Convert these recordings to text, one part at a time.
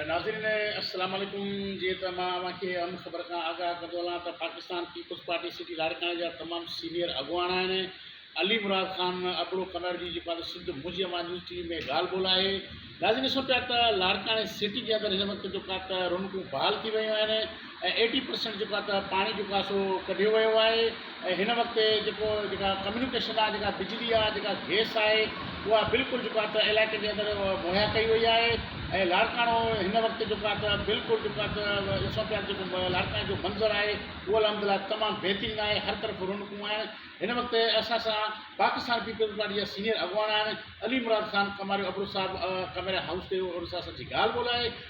ناظرين السلام عليڪم جيئن ته مان اوهان کي اهم خبر کان آگاهه ڪندو هلان ته پاڪستان پيپلز پارٽي سٽي لاڙڪاڻي جا تمام سينئر اڳواڻ آهن علي مراد خان ابڙو ڪنڙ جي جيڪو آهي سنڌ موجي اوهان نيوز ٽي وي ۾ ڳالهه ٻولهه آهي ناظرين ڏسون پيا ته لاڙڪاڻي سٽي جي اندر هن وقت جيڪو آهي ته رونقون بحال ٿي ويون آهن ۽ ايٽي پرسينٽ جيڪو آهي ته پاڻي جيڪو آهي سو ڪڍيو ويو آهي ۽ هن وقت جيڪو جيڪا ڪميونيڪيشن آهي جيڪا بجلي آهي جيڪا گيس آهي اها بلڪل جيڪو آهي ته علائقي جي اندر مهيا ڪئي وئي آهي ۽ لاڙڪاڻو هن وقت جيڪو آهي ته بلڪل جيڪو آهي ته ڏسون پيا جيڪو لاڙڪاڻي جو منظر آهي اهو الحمدلله تمام بهترين آهي هر طرف رونقون آهن هن وقت اسان سان پاڪستان پيپلز پارٽي جا سينيئر اڳواڻ آهن علي مراد خان ڪماريو ابڙو صاحب ڪماريا هائوس تي اسان سان ڳالهه ٻولهه آهي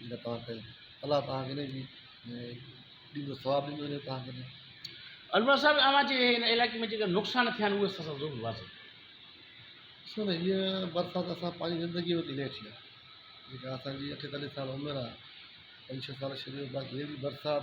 جيڪا توهان کي الله توهان کي ان جي ڏيندو ثواب ڏيندو جيڪو توهان کي ڏي. علماء صاحب اوهان جي هن علائقي ۾ جيڪي نقصان ٿيا آهن اهي اسان سان ضرور واضح ڪيو. ڏسو ته هيء برسات اسان پنهنجي زندگيء ۾ ڪي نه ڏٺي آهي جيڪا اسان جي اٺيتاليهه سال عمر آهي پنج ڇهه سال شروع ۾ باقي هيء برسات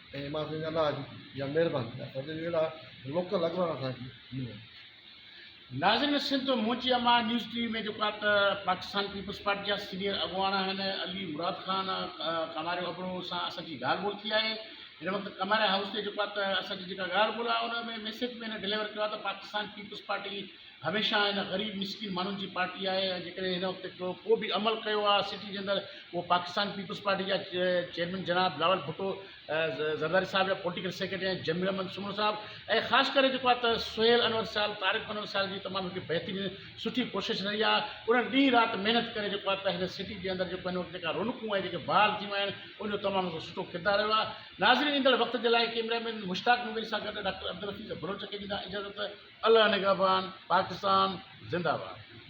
۽ ايمان سنگهه جا ناز جا مهربان ٿيا سندن جهڙا لوڪل اڳواڻ اسان کي ملن. ناظرين سنڌ منهنجي امان نيوز ٽي وي ۾ جيڪا ته پاڪستان پيپلز پارٽي جا سينيئر اڳواڻ آهن علي مراد خان ڪماريو ابڙو سان اسان جي ڳالهه ٻولهه ٿي آهي هن وقت ڪماريا هائوس تي جيڪا ته اسان جي جيڪا ڳالهه ٻولهه آهي ان ۾ ميسيج ۾ هن ڊليور ڪيو آهي ته پاڪستان پيپلز پارٽي هميشه هن غريب مسڪين ماڻهن جي پارٽي آهي ۽ جيڪڏهن هن وقت ڪو به عمل ڪيو آهي سٽي جي اندر اهو پاڪستان پيپلز پارٽي جا چيئرمين جناب بلاول ڀٽو زرداري صاحب يا پوليٽيڪل سيڪريٽري آهن جميل احمد سمرو صاحب ۽ خاص ڪري جيڪو آهي ته سهيل انور صاحب طارق انور صاحب جي تمام هڪ بهترين سٺي ڪوشش رهي آهي انهن ڏينهن رات محنت ڪري جيڪو آهي ته هن سٽي جي اندر جيڪو هن وقت جيڪا رونقون ۽ جيڪي بحال ٿيون آهن ان جو تمام سٺو ڪردار رهيو آهي ناظرين ايندڙ وقت جي لاء ڪيمرا مين مشتاق مغل سان گڏ ڊاڪٽر عبدالحفيظ بلوچ کي ڏيندا اجازت الله نگهبان پاڪستان زنده باد.